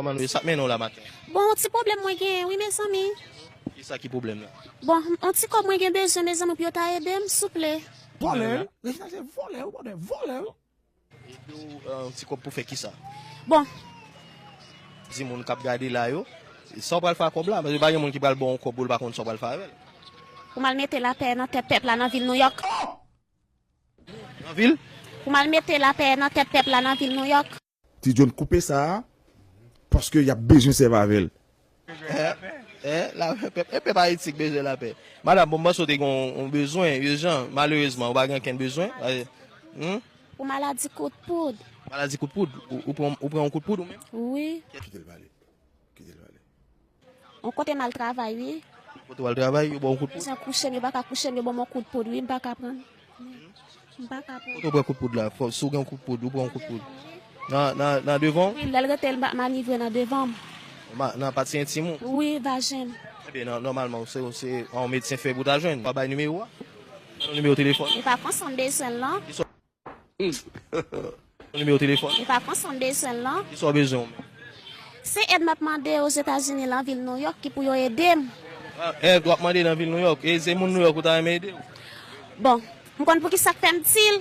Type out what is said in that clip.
Kòman nou ye? Sa k mennen w la maten an? Bon, on ti pwoblèm mwen genyen wi mezanmi. Ki sa ki pwoblèm lan? Bon, on ti kòb mwen gen bezwen mezanmi pou yo ta ede m, souple. Vòlè, Rejina se vòlè wi bòdè, vòlè. Ede w on ti kòb pou fè ki sa? Bon. Di moun k ap gade la yo, sa w pral fè ak kòb la? Paske pa gen moun ki pral ba w on kòb pou l pa konn sa w pral fè avè l. Pou m al mete lapè nan tèt pèp la nan vil Nouyòk. Nan vil? Pou m al mete lapè nan tèt pèp la nan vil Nouyòk. Ti John koupe sa a paske yap bezwen sèvi avèl. Eeh pèp Ayiti k bezwen lapè. Madam bon m panse w te gen yon bezwen urjan malerezman ou pa gen okenn bezwen humm. Pou maladi kout poud. Maladi kout poud ou pran yon kout poud ou menm? Wi. Kitel pale kitel pale. On kote mal travay wi. On kote wal travay yo baw kout poud. Mezan kouchem yo paka kouchem yo banm on kout poud wi mpaka pran. Mpaka pran. Kote ou pran kout poud la fò si ou gen on kout poud ou pran on kout poud. Nan nan nan devanw? Wi lèl retel mpa manivre nan devanm. Nan pati entim ou? Wi vajenm. Ebyen nan nòmalman se se on medsen fè pou ta jwenn. Ou pa bay nimewo a? Bannou nimewo telefòn ou. Epa konsa mbezwenl non. Yon nimewo telefòn. Li pa pran san m bezwen l lan. Kisa w bezwen ou menm? Se èd m ap mande Ozetazini lan vil Nouyòk ki pou yo ede m. Èd w ap mande nan vil Nouyòk? E se moun Nouyòk ou ta renmen ede w? Bon, m konn poukisa k fè m di l.